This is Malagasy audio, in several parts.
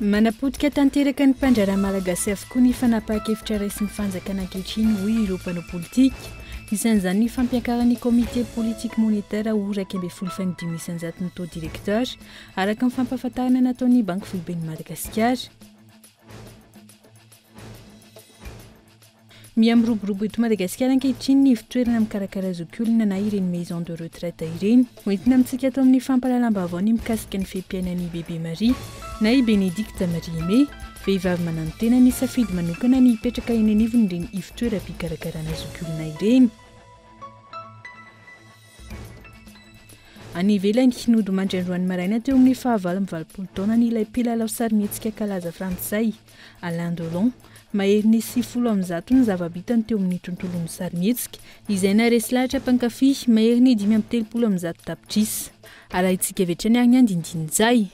Manapotika tanteraka ny mpandraharaha malagasy avokoa ny fanapahan-kevitra raisin'ny fanjakana ankehitriny, hoy ireo mpanao politika. Isan'izany ny fampiakaran'ny Comité politique monétaire ho iraika ambin'ny folo faingo dimy isan-jato ny taux directeur, araka ny fampahafantarana nataon'ny Banky foiben'i Madagasikara. Miha miroborobo eto Madagasikara ankehitriny ny ivon-toerana mikarakara zokiolona na ireny maison de retraite ireny. Hoentina amintsika ato amin'ny fampahalalam-baovao ny mikasika ny fe-piainan'i Bebe Maria na i Benedicte Marie Aimée, vehivavy mananotena nisafidy manokana ny hipetraka eny anivon'ireny ivon-toeram-pikarakarana zokiolona ireny. Any ivelany, nodimandry androany maraina teo amin'ny faha valo amby valopolo taonany ilay mpilalao sarimihetsika kalaza frantsay, Alain Delon. Mahery ny sivifolo amin'ny zato ny zava-bitany teo amin'ny tontolon'ny sarimihetsika, izay naharesy lahatra mpankafy mahery ny dimy amby telopolo amin'ny zato tapitrisa. Arahintsika avy hatrany ary ny andinindin'izay.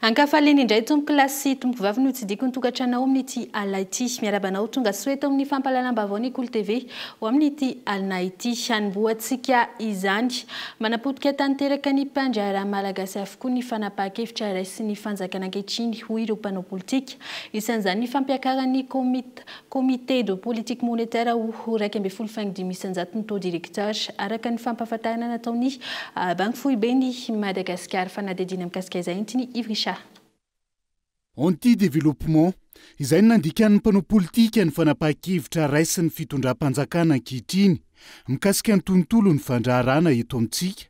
Ankafaliana indray tompokolahy sy tompokovavy ny ho tsidihiko ny tokantrano ao amin'ity alina ity. Miarahaba anao tonga soa eto amin'ny fampahalalam-baovao ny Kolo TV ho amin'ity alina ity. Hanombohantsika izany. Manapotika tanteraka ny mpandraharaha malagasy avokoa ny fanapahan-kevitra raisin'ny fanjakana ankehitriny hoy ireo mpanao politika. Isan'izany ny fampiakaran'ny komity Comité de politique monétaire ho iraika ambin'ny folo faingo dimy isan-jato ny taux directeur, araka ny fampahafantarana nataon'ny Banky Foiben'i Madagasikara. Fanadihadiana mikasika izay entin'i Yves Richard. Anti développement, izay no nandikan'ny mpanao politika ny fanapahan-kevitra raisin'ny fitondram-panjakana ankehitriny mikasika ny tontolon'ny fandraharahana eto amintsika.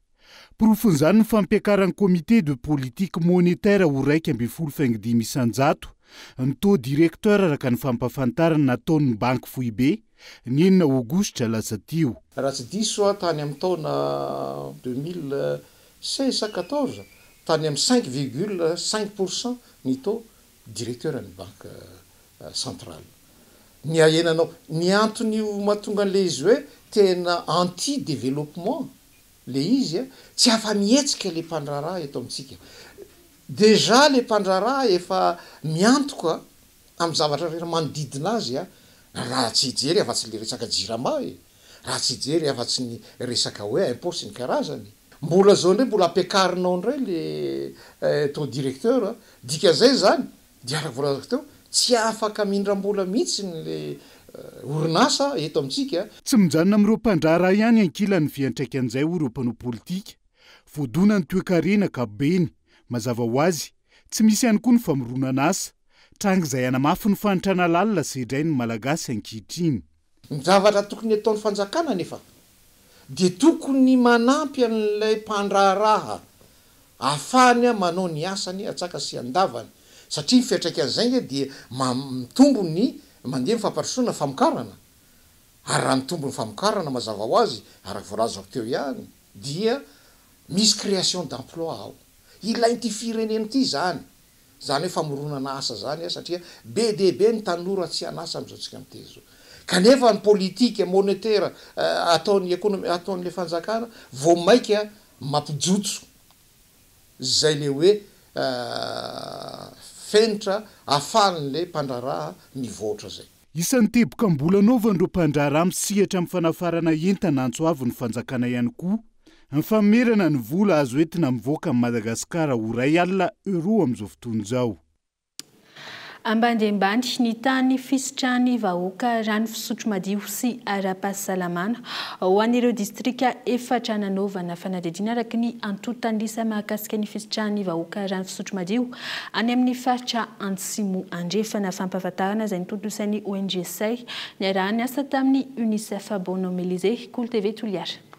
Porofon'izany ny fampiakaran'ny Comité de politique monétaire ho iraika ambin'ny folo faingo dimy isan-jato ny taux directeur araka ny fampahafantarana nataon'ny Banky Foibe ny enina Aogositra lasa teo. Raha tsy diso aho tany amin'ny taona deux mille seize sa quatorze, tany amin'ny cinq virgule cinq pour cent ny taux directeur ny Banky centrale. Ny ahenanao, ny anton'io mahatonga an'ilay izy hoe tena anti-développement le izy a, tsy afa mihetsika le mpandraharaha eto amintsika. Déjà le mpandraharaha efa miantoka amin'ny zavatra rehetra manodidina azy a, raha tsy hijery afa tsy le resaka jirama e, raha tsy hijery afa tsy ny resaka hoe impôt sy ny karazany. Mbola zao ndray mbola ampiakarinao ndray le taux directeur a, dikan'izay zany Dia araka voalazako teo, tsy afaka mindram-bola mihitsy ilay orinasa eto amintsika. Tsy mijanona amin'ireo mpandraharaha ihany ankilany fiantraikan'izay hoy ireo mpanao politika. Voadona ny toekarena ankapobeny, mazava ho azy, tsy misy ihany koa ny famoronan'asa. Tranga izay hanamafy ny fahantrana lalina sedrain'ny Malagasy ankehitriny. Ny zavatra tokony ataon'ny fanjakana anefa dia tokony manampy an'ilay mpandraharaha ahafahany manao ny asany an-tsaka sy an-davany satria ny fiantraikan'izay ange dia mitombo ny mandeha ny fampandrosoana ny famokarana ary raha mitombo ny famokarana mazava ho azy araka voalazako teo ihany dia misy création d'emploi ao. Ilain'ity firenena ity izany. Izany hoe famoronana asa izany an, satria be dia be ny tanora tsy an'asa amin'izao antsika miteny izao. Kanefa ny politika monetera ataon'ny ekonomi, ataon'ilay fanjakana vao maika mampijotso izay ilay hoe fenitra ahafahan'ilay mpandraharaha mivoatra izay. Isan'ny teboka mbola anaovan'ireo mpandraharaha misehatra amin'ny fanafarana entana antso avo ny fanjakana ihany koa ny famerana ny vola azo entina mivoaka amin'i Madagasikara ho iray alina euros amin'izao fotoana izao. Ambany dia ambany ny tany fisitrahan'ny vahoaka rano fisotro madio sy ara-pahasalamana ho an'ireo distrika efatra nanaovana fanadihadiana araka ny antontan'isa mahakasika ny fisitrahan'ny vahoaka rano fisotro madio Any amin'ny faritra Antsimo Andrefana, fampahafantarana izay notontosan'ny ONG Say niaraha-niasa tamin'ny Unicef Bono Melizé, Kolo TV Toliara.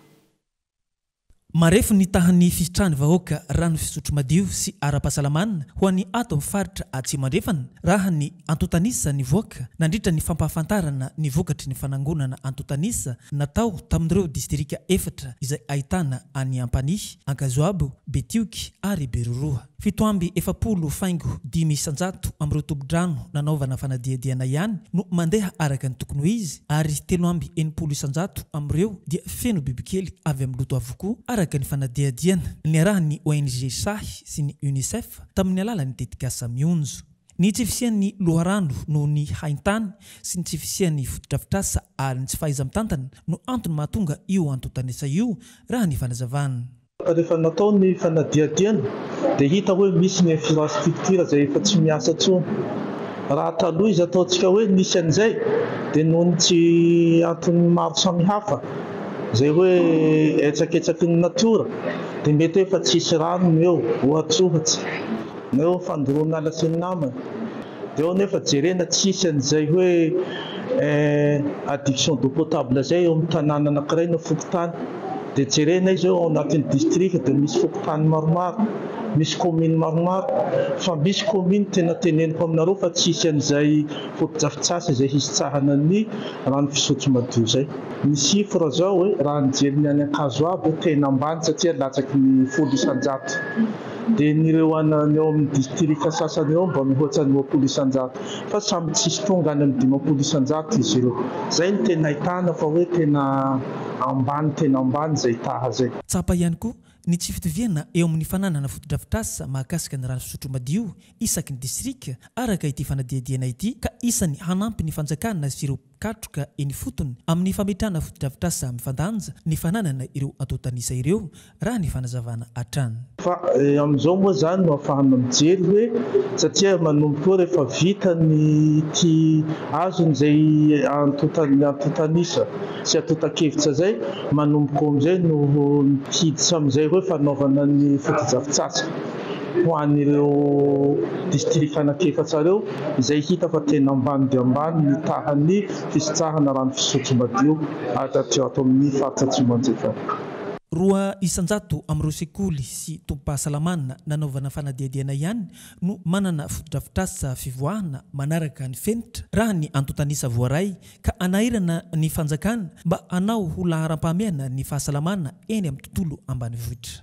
Marefo ny tahan'ny fisitrahan'ny vahoaka rano fisotro madio sy ara-pahasalamana ho an'ny ato amin'ny faritra Atsimo Andrefana raha ny antontanisa nivoaka nandritra ny fampahafantarana ny vokatry ny fanangonana antontanisa natao tamin'ireo distrika efatra izay ahitana an'i Ampanihy, Ankazoabo, Betioky ary Beroroha. Fito amby efapolo faingo dimy isan-jato amin'ireo tompon-drano nanaovana fanadihadihana ihany no mandeha araka ny tokony ho izy ary telo amby enimpolo isan-jato amin'ireo dia feno bibikely avy amin'ny loto avokoa araka ny fanadihadihana niarahan'ny ONG sahy sy ny Unicef tamin'ny alalan'ny tetikasa Mionjo ny tsy fisian'ny loharano noho ny haintany sy ny tsy fisian'ny fotodrafitrasa ary ny tsy fahaiza-mitantana no antony mahatonga io antontan'isa io raha ny fanazavan'ny Rehefa natao ny fanadihadiana dia hita hoe misy ny infrastructure izay efa tsy miasa intsony. Raha taloha izy ataontsika hoe nisy an'izay dia noho ny tsy antony maro samihafa izay hoe etsaketsaky ny natiora dia mety hoe efa tsy hisy rano ny eo ohatsohatsa na eo fandoroana ala sy ny namany. Dia ao nefa jerena tsy hisy an'izay hoe adduction d'eau potable izay eo amin'ny tanàna anankiray na fokontany. Dia jerena izy hoe ao anatin'ny distrika dia misy fokontany maromaro, misy commune maromaro, fa misy commune tena teneniko aminareo fa tsy hisy an'izay fotodrafitsasa izay hisitsahana ny rano fisotro madio izay. Ny chiffre zao e, raha nijery ny any Ankazoabo tena ambany satria latsaky ny folo isan-jato. Dia ny ireo any eo amin'ny distrika sasany eo mba mihoatra ny roapolo isan-jato. Fa samy tsisy tonga any amin'ny dimampolo isan-jato izy ireo. Izay no tena ahitana fa hoe tena ambany tena ambany izay taha izay. Tsapa ihany koa ny tsy fitoviana eo amin'ny fananana fotodrafitrasa mahakasika ny rano fisotro madio isaky ny distrika araka ity fanadihadiana ity ka isany hanampy ny fanjakana sy ireo katroka eny ifotony amin'ny fametrahana fotodrafitrasa mifandanja ny fananana ireo antontan'isa ireo, raha ny fanazavana hatrany. Fa amin'izao moa izany no afahana mijery hoe satria manomboka eo rehefa vita ny ity azony izay antontan'ny antontan'isa sy antontan-kevitra izay, manomboka eo amin'izay no hiditra amin'izay hoe fanaovana ny fotodrafitsasa. ho an'ireo district anak'efatra ireo izay hita fa tena ambany dia ambany ny tahan'ny fisintsahana rano fisotro madio ato amin'ny faritra Atsimo Anjekana. Roa isan-jato amin'ireo sekoly sy tobim-pahasalamana nanaovana fanadihadiana ihany no manana fotodrafitrasa fivoahana manaraka ny fenitra raha ny antontan'isa voaray ka hanahirana ny fanjakana mba hanao ho laharam-pahamehana ny fahasalamana eny amin'ny tontolo ambanivohitra.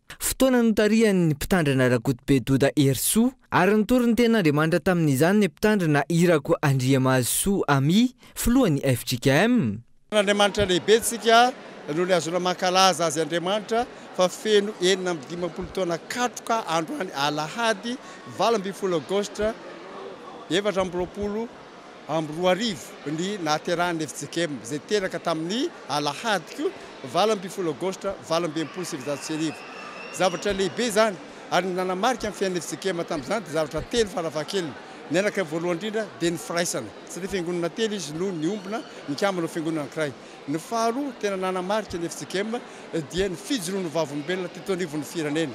Fotoana notarihan'ny Mpitandrina Rakotobe Doda Herisoa ary nitory ny tenin'Andriamanitra tamin'izany ny Mpitandrina Irako Andriamahazosoa Amy, Filohan'ny fjkm. Andriamanitra lehibe tsika noho ny ahazoana mankalaza Azy Andriamanitra fa feno enina amby dimampolo taona katroka androany alahady valo ambin'ny folo aogositra efatra amby roapolo amby roa arivo ny nahaterahan'ny FJKM izay teraka tamin'ny alahady valo ambin'ny folo aogositra valo amby enimpolo sy sivinjato sy arivo. Zavatra lehibe izany ary ny nanamarika ny fiainan'ny FJKM tamin'izany dia zavatra telo farafahakeliny. Ny anankiray voalohany indrindra dia ny firaisana satria fiangonana telo izy no niombona nikambana ho fiangonana anankiray. Ny faharoa tena nanamarika ny FJKM dia ny fijoroan'ny vavolombelona teto anivon'ny firenena.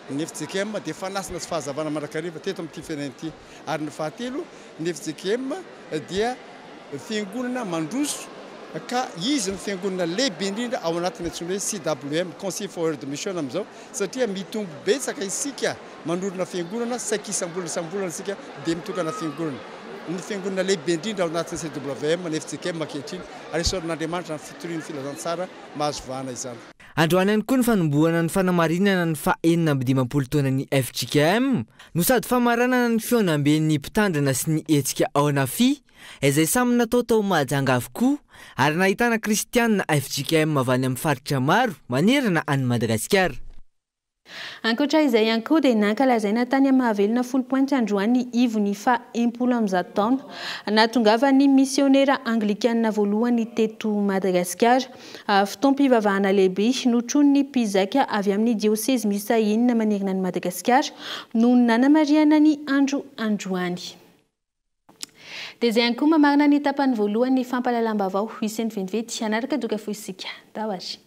Ny FJKM dia fanasana sy fahazavana mandrakariva teto amin'ity firenena ity. ary ny fahatelo ny fjkm dia fiangonana mandroso ka izy no fiangonana lehibe indrindra ao anatiny antsoina hoe CWM, Concil for World Mission amin'izao satria mitombo betsaka isika manorina fiangonana saiky isambolana isambolana isika dia mitokana fiangonana ny fiangonana lehibe indrindra ao anatiny CWM ny fjkm ankehitriny ary esorin'Andriamanitra ny fitorian'ny filazantsara mahazo vahana izany. Androany ihany koa ny fanombohana ny fanamarinana ny faha enina amby dimampolo taonan'ny fjkm no sady famaranana ny fihaonamben'ny mpitandrina sy ny hetsika ao Nafi, izay samy natao tao Mahajanga avokoa ary nahitana kristianina fjkm avy any amin'ny faritra maro manerana an'i Madagasikara. Ankoatra izay ihany koa dia nankalazaina tany Mahavelona folopointy androany ny ivon'ny faha enimpolo amby zato taona nahatongavan'ny misiônera anglikanina voalohany teto Madagasikara. Fotoam-pivavahana lehibe notronin'ny mpizaika avy amin'ny diosezy miisa enina manerana an'i Madagasikara no nanamarihana ny andro androany. Dia izay ihany koa mamarana ny tapany voalohany ny fampahalalam-baovao. Hisento vetivety hanaraka doka fohy isika. Tahotra.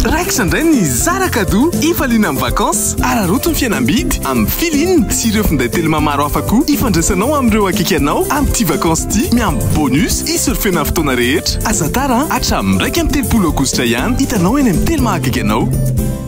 Raikitra indray ny hizara cadeau hifaliana amin'ny vacances. Araraoty ny fihenam-bidy amin'ny Filine sy ireo finday Telma maro hafa koa hifandraisanao amin'ireo akaiky anao amin'ity vacances ity miampy bonus hi-surfer-na ny fotoana rehetra. Aza tara an! Hatramin'ny iraika amby telopolo aogositra ihany hitanao eny amin'ny Telma akaiky anao.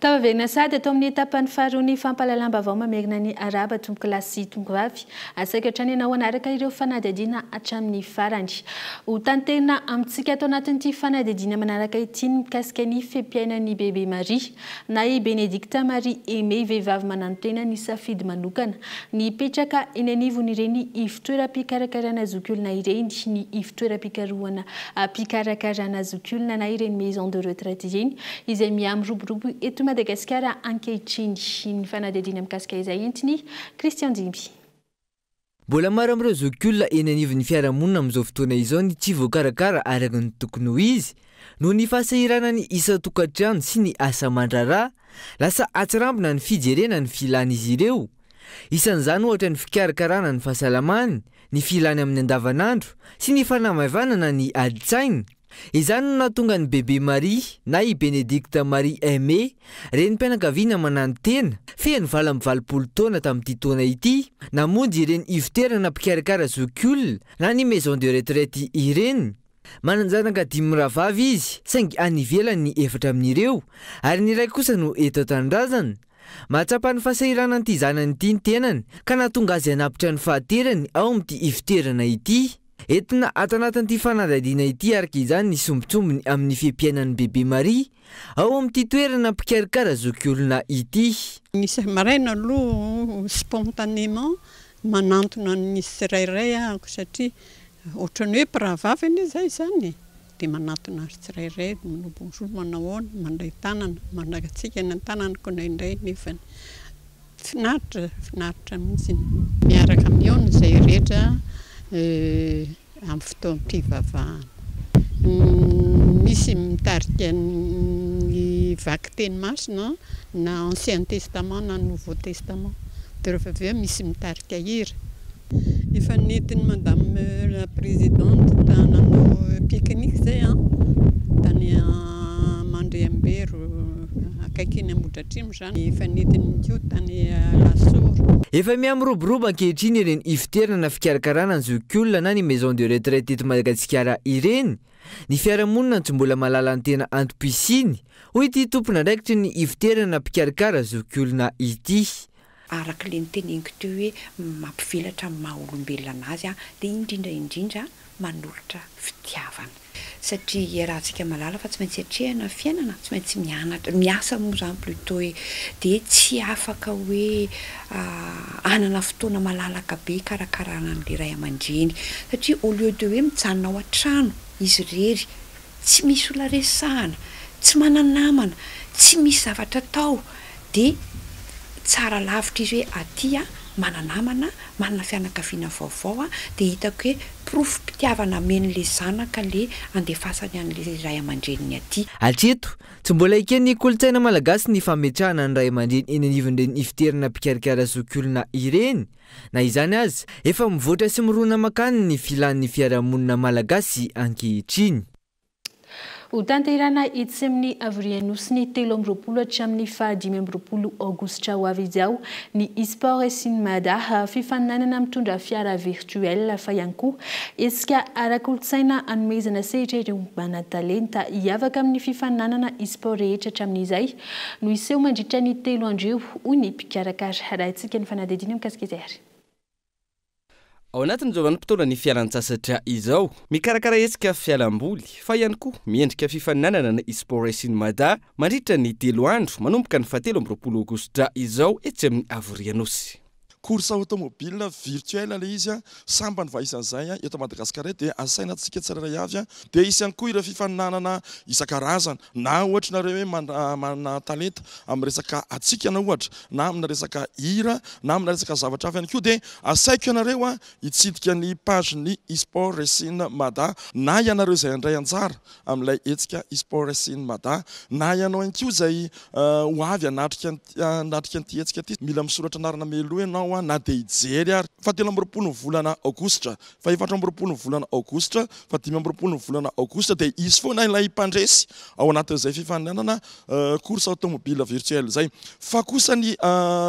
Tafaverina sahady atao amin'ny tapany faharoa ny fampahalalam-baovao mamerina ny Arahaba tompokolahy sy tompokvavy. Asaiko hatrany ianao hanaraka ireo fanadihadiana hatramin'ny farany. Ho tanterina amintsika ato anatin'ity fanadihadiana manaraka ity ny mikasika ny fe-piainan'i Bebe Maria, na i Benedicta Marie Aimée, vehivavy mananontena nisafidy manokana ny hipetraka eny anivon'ireny toeram-pikarakarana zokiolona ireny, ny ivotoeram-pikarohana mpikarakarana zokiolona na ireny maison de retraite ireny izay mihamiroborobo eto Madagasikara ankehitriny. Ny fanadihadiana mikasika izay entin'i Christian Jimby. Mbola maro amin'ireo zokiolona eny anivon'ny fiarahamonina amin'izao fotoana izao ny tsy voakarakara araka ny tokony ho izy noho ny fahasahiranan'ny isan-tokantrano sy ny asa aman-draharaha, lasa atsirambina ny fijerena ny filan'izy ireo Isan'izany ohatra ny fikarakarana ny fahasalamany, ny filany amin'ny andavanandro sy ny fanamaivanana ny adin-tsainy. Izany no nahatonga an'i Bebe Marie na i Bénédicte Marie Aimé, renim-pianakaviana mananotena, feno valo amby valopolo taona tamin'ity taona ity, namonjy ireny ivoterana mpikarakara zokiolona na ny maison de retraite ireny. Manan-janaka dimy mirahavavy izy saingy any ivelany ny efatra amin'ireo ary ny iray kosa no eto an-tanindrazana. Mahatsapa ny fahasahiranan'ity zanany ity ny tenany ka nahatonga azy hanapitra ny fahanterany ao amin'ity ifotoerana ity. Entina ato anatin'ity fanadihadiana ity araka izany ny sombintsombiny amin'ny fe-piainan'ny bebe Maria ao amin'ity toerana mpikarakara zokiolona ity. Ny isa-maraina aloha spontanément manantona ny tsirairay aho satria ohatran'ny hoe mpirahavavy anie izaho izany e! Dia manatona azy tsirairay, manao bonjour, manao ahoana, mandray tanana, mangatsiaka ny an-tanana koa indraindray nefany. Finaritra, finaritra mihitsy ny. Miaraka mihaona izay rehetra amin'ny fotoam-pivavahana. Misy mitarika ny vakiteny masina na ancien testament na nouveau testament. Dia rehefa avy eo misy mitarika hira. Efa nentin'i Madame la Présidente nanao pique-nique izay an, tany Mandriambery akaiky eny Ambohidratrimo izany. Efa nentiny ihany koa tany Alasora. Efa miha miroborobo ankehitriny ireny ifoterana na fikarakarana ny zokiolona na ny maison de retraite eto Madagasikara ireny, ny fiarahamonina no tsy mbola mahalala ny tena antom-pisiany, hoy ity tompon'andraikitry ny ifoterana na mpikarakara zokiolona ity. Araka ilay noteneniko teo hoe mampivelatra ny maha olombelona anazy dia indrindra indrindra manolotra fitiavana. Satria iarahantsika mahalala fa tsy maintsy atrehina ny fiainana, tsy maintsy mianatra, miasa moa izany plutot e, dia tsy afaka hoe hanana fotoana malalaka be hikarakarana an'ilay ray aman-dreny. Satria au lieu de hoe mijanona ao an-trano izy irery, tsy misy olona resahana, tsy mana-namana, tsy misy zavatra atao dia tsara lavitra izy hoe aty aho mana-namana, manana fianakaviana vaovao aho dia hitako hoe porofom-pitiavana ameny ilay zanaka ilay andefasany an'ilay ray aman-dreniny aty. Hatreto, tsy mbola eken'ny kolontsaina malagasy ny fametrahana ny ray aman-dreny eny anivon'ireny ifidiarana mpikarakara zokiolona ireny, Na izany aza, efa mivoatra sy mirona mankany ny filan'ny fiarahamonina malagasy ankehitriny. Hotanterahina etsy amin'ny Havorianosiny telo amby roapolo hatramin'ny faha dimy amby roapolo aogositra ho avy izao ny Esport is in Mada, fifaninanana mitondra fiara virtuel fa ihany koa hetsika ara-kolontsaina hanomezana sehatra ireo manan-talenta hiavaka amin'ny fifaninanana esport rehetra hatramin'izay no hiseho mandritra ny telo andro eo, hoy ny mpikarakara. Arahintsika ny fanadihadiana mikasika izay ary. Ao anatin'izao vanim-potoanan'ny fialan-tsasatra izao, mikarakara hetsika fialamboly fa ihany koa miendrika fifaninanana ny Esport Racing Mada mandritra ny telo andro manomboka ny fahatelo amby roapolo aogositra izao etsy amin'ny Avo Rianosy. Course automobile virtuelle ilay izy an! Sambany fa isan'izay an! Eto Madagasikara eto dia asaina antsika tsirairay avy an! Dia hisy ihany koa ireo fifaninanana isan-karazany na ohatra ianareo hoe manana talenta amina resaka hatsikana ohatra na amina resaka hira na amina resaka zavatra hafa ihany koa dia asaiko ianareo an! Hitsidika ny page ny Esport Racing Mada na ianareo izay handray anjara amin'ilay hetsika eSports in Mada. Na ianao ihany koa izay ho avy hanatrika hanatrika an'ity hetsika ity, mila misoratra anarana mialoha ianao na dia hijery ary. Fahatelo amby roapolo ny volana aogositra, fahefatra amby roapolo ny volana aogositra, fahadimy amby roapolo ny volana aogositra dia hisy foana ilay mpandresy ao anatin'izay fifaninanana course automobile virtuelle izay. Fa kosa ny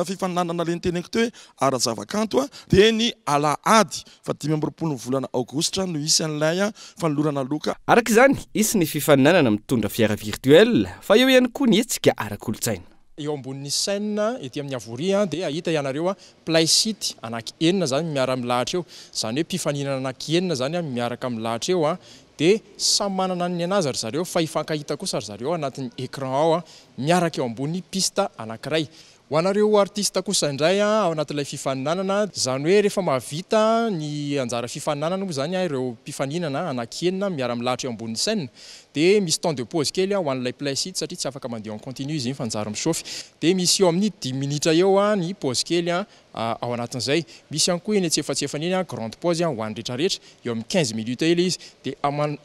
fifaninanana le niteneko teo hoe ara-javakanto dia ny alahady Fa dimy amby roapolo ny volana aogositra no hisy an'ilay fanolorana loka. Araka izany, hisy ny fifaninanana mitondra fiara virtuel, fa eo ihany koa ny hetsika ara-kolontsaina. Eo ambonin'ny chaîne ety amin'ny havoria dia hahita ianareo Play City anaky enina izany miara-milahatra eo. Izany hoe mpifaninana anaky enina izany miaraka milahatra eo dia samy manana ny an'azy ry zareo fa hifankahita kosa ry zareo anatin'ny écran ao miaraka eo ambony piste anankiray. Ho anareo artista kosa indray an, ao anatin'ilay fifaninanana, izany hoe rehefa mahavita ny anjara fifaninanana moa izany ireo mpifaninana anaky enina miara milahatra eo ambonin'ny scène dia misy temps de pause kely ho an'ilay mpilay site satria tsy afaka mandeha en continu izy iny fa njary michauffe dia misy eo amin'ny dimy minitra eo ny pause kely an ao anatin'izay. Misy ihany koa eny antsefatsefany eny an grande pause ho an'ny retraretra. eo amin'ny quinze minutes eo ilay izy dia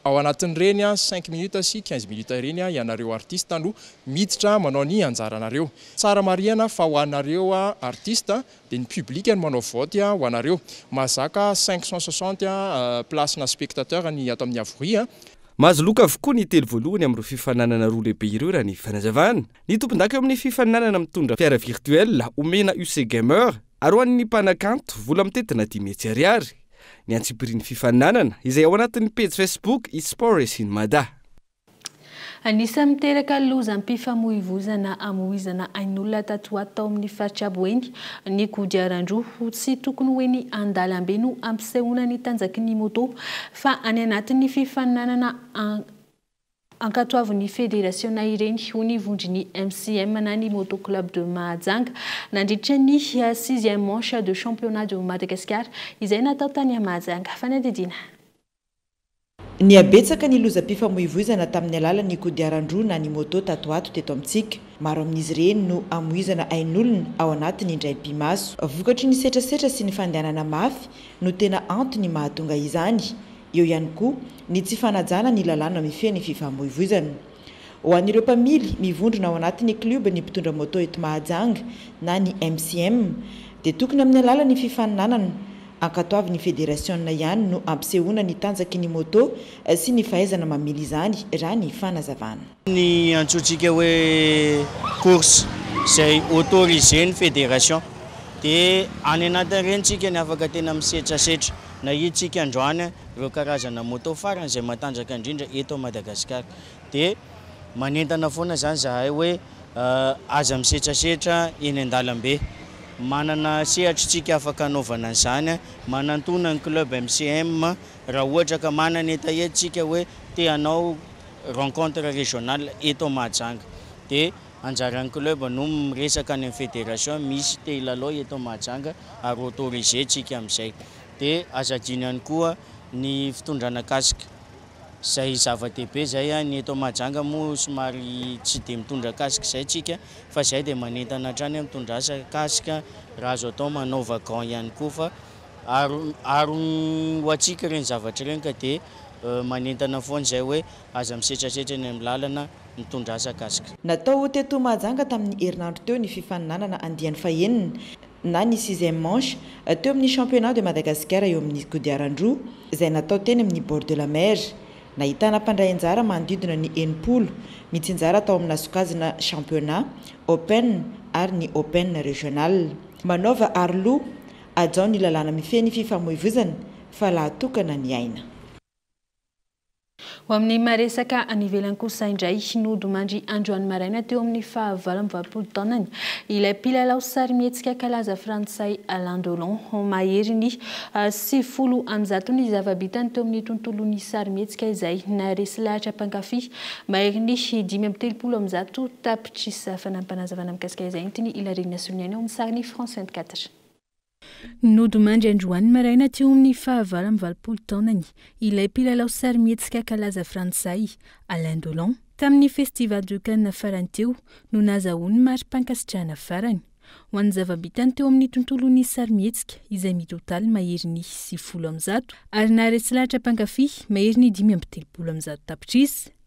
ao anatin'ireny cinq minutes sy quinze minutes ireny ianareo artistes no miditra manao ny anjaranareo. Tsara marihana fa ho anareo artistes dia ny public no manao vote ho anareo. Mahazaka cinq cent soixante places na spectateurs ny ato amin'ny Avoria. Mahazo loka avokoa ny telo voalohany amin'ireo fifaninanana roa lehibe ireo raha ny fanazavana ny tompondaka eo amin'ny fifaninanana mitondra fiara virtuelle omena UC Gamer. Aroan'ny mpanakanto vola mitentina dimy hetsy ariary ny antsipirian'ny fifaninanana izay ao anatin'ny pejy Facebook Espores in Mada. Anisan'ny miteraka lozam-pifamoivoizana amoizana ain'olona tato ho ato tao amin'ny faritra Boeny ny kodiaran-droa ho tsy tokony ho eny an-dalambe no ampisehoana ny tanjaky ny moto fa any anatin'ny fifaninanana Ankatoavin'ny federasiona ireny, hoy ny vondron'ny MCM na ny Moto Club de Mahajanga, nandritra ny sixième manche de championnat de Madagascar izay natao tany Mahajanga. Fanadihadiana. Nihabetsaka ny lozam-pifamoivoizana tamin'ny alalan'ny kodiaran-droa na ny moto tato ato teto amintsika. Maro amin'izy ireny no amoizana ain'olona ao anatin'ny indray mpi-maso. Vokatry ny setrasetra sy ny fandehanana mafy no tena antony mahatonga izany. Eo ihany koa ny tsy fanajana ny lalàna mifehy ny fifamoivoizana. Ho an'ireo mpamily, mivondrona ao anatin'ny klioban'ny mpitondra moto eto Mahajanga na ny MCM, dia tokony amin'ny alalan'ny fifaninanana ankatoavin'ny federasiona ihany no ampisehoana ny tanjaky ny moto sy ny fahaizana mamily izany, raha ny fanazavana. Ny antsointsika hoe course izay autoriser ny fédération dia any anatin'ireny tsika ny afaka tena misetrasetra. Nahitsika androany ireo karazana moto farany izay matanjaka indrindra eto Madagasikara dia manentana foana izany izahay hoe aza misetrasetra eny an-dalambe. Manana sehatry tsika afaka anaovana an'izany manantona ny club MCM. Raha ohatra ka manana hetahetra tsika hoe te hanao rencontre régionale eto Mahajanga de anjaran'ny club no miresaka any amin'ny fédération misy te hilalao eto Mahajanga ary autorisé tsika amin'izay. De aza adino ihany koa ny fitondrana casque izay zava-dehibe izay a, ny eto Mahajanga moa somary tsy de mitondra casque izay tsika fa izay de manentana hatrany amin'ny mpitondra asa casque raha azo atao manaova gants ihany koa fa. Aron ho antsika ireny zavatra ireny ka dia manentana foana izay hoe aza misetrasetra eny amin'ny lalana mitondra asa kask. Natao teto Mahajanga tamin'ny herinandro teo ny fifaninanana andiany fahenina na ny sixième manche teo amin'ny Championnat de Madagascar eo amin'ny kodiaran-droa izay natao teny amin'ny bord de la mer. Nahitana mpandray anjara manodidina ny enimpolo mitsinjara tao amina sokajina Championnat, Open ary ny Open Régional. Manaova aroloha. Hajao ny lalàna mifehy ny fifamoivozana fa lahatokana ny aina. Ho amin'ny maha-resaka any ivelany kosa indray, nodimandry androany maraina teo amin'ny fahavalo amby valopolo taonany ilay mpilalao sarimihetsika kalaza frantsay Alain Delon. Mahery ny sivifolo amby zato ny zava-bitany teo amin'ny tontolon'ny sarimihetsika izay naharesy lahatra mpankafy maherin'ny dimy amby telopolo amby zato tapitrisa. Tsisy fanampanazavana mikasika izay no tian'i Hilarine hasolo ny ainy ao amin'ny sarin'i France 24. Nodimandry androany maraina teo amin'ny faha valo amby valopolo taonany ilay mpilalao sarimihetsika kalaza frantsay, Alain Delon. Tamin'ny Festival de Cannes farany teo no nazahoany mari-pankasitrahana farany, ho an'ny zava-bitany teo amin'ny tontolon'ny sarimihetsika izay mitotaly maherin'ny sivifolo amin'ny zato ary naharesy lahatra mpankafy maherin'ny dimy amby telopolo amin'ny zato tapitrisa.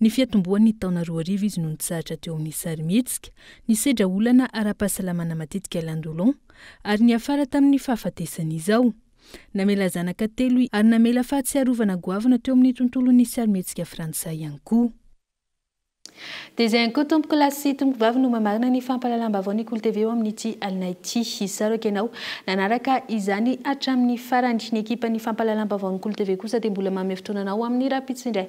Ny fiatombohan'ny taona roa arivo izy no nitsahatra teo amin'ny sarimihetsika, nisedra olana ara-pahasalamana matetika Landolon, ary niafara tamin'ny fahafatesany izao. Namela zanaka telo i ary namela fahatsiarovana goavana teo amin'ny tontolon'ny sarimihetsika frantsay ihany koa. Dia izay ihany koa tompoko lahy sy tompoko vavy no mamarana ny fampahalalam-baovao ny Kolo TV eo amin'ity alina ity. Isaro aky ianao nanaraka izany hatramin'ny farany. Ny ekipan'ny fampahalalam-baovaon'ny Kolo TV kosa dia mbola manome fotoana anao amin'ny rahampitso indray.